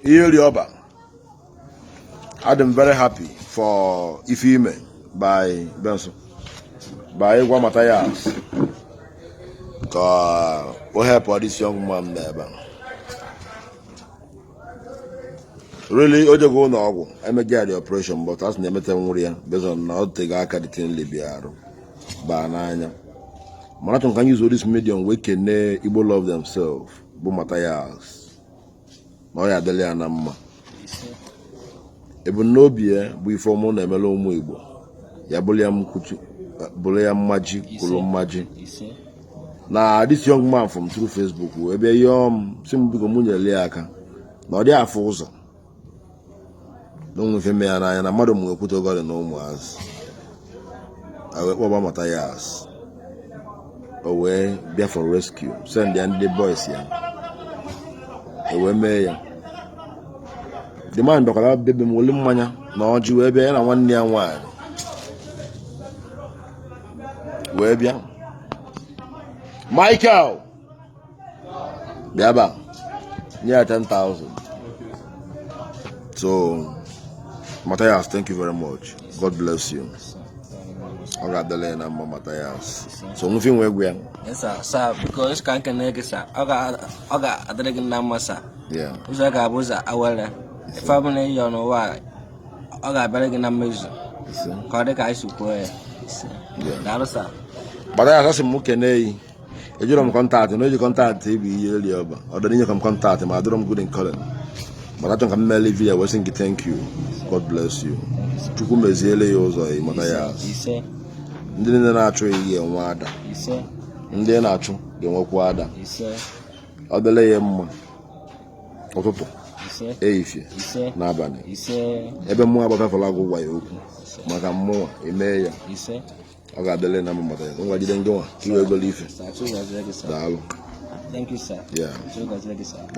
Iyeri Oba, adị m very happy for ife i me by Benson by ịgwa Matthias ka o help this young man n'ebe a. really o jego ụlọ ọgwụ emegharị operation but as na emetanwurọ ya based on na o teego aka the thing libi arụ baa n'anya mana achọ m ka m use this medium wee kene igbo love themselves bụ Matthias na ọ ya-adịlị ya na mma ebumnobi ya bụ ife ọma ọ na-emere ụmụ Igbo ya bụrụ ya mkwuchi bụrụ ya mmaji kwuru mmaji na this young man from through Facebook wee bịa yọọ m sị m biko mụ nyere ya aka na ọ dị afụ ụzọ na o nwe ife me ya n'anya na mmadụ m wee kwute ogori na ụmụazị wee kpọba Matthias o wee bịa for rescue send ya ndị boys ya o wee mee ya the man bịakwara be be m weli mmanya na ọjị wee bịa ya na nwanne ya nwaanyị wee bịa Michael bịa ba nye ya 10,000 so Matthias thank you very much God bless you ọ ga-adịlị ya na mma Matthias so o nwe ife ị nwe ịgwa ya ka m kenee gị sir ọ ga-adịrị gị na mma sir ụzọ ga-abụ ụzọ awere ife ọ bụla ị yọ n'ụwa ọ ga-abịara gị na mmezu ka ọ dị ka anyị si kwuo ya daalụ sir Matthias asị m kenee ị ejirọ m contact ị onye ji contact ị bụ Iyeri Oba ọ dịrị inye ka m contact ị ma adịrọ m good in calling mana achọ ka m meele vidiyo wee sị gị thank you god bless you chukwu meziele ya ụzọ ya Matthias ndị niile na-achụ ya ya-enwe ada ndị na-achụ ga-enwekwa ada ọ dịlị ya mma ụtụtụ ehihie na abalị ebe mmụọ agbafefela gị gwa ya okwu maka mụ o mee ya ọ ga-adịrị na mma ya ngwa jide ndị nwa tiwe egolo ife daalụ Thank you, sir. Yeah.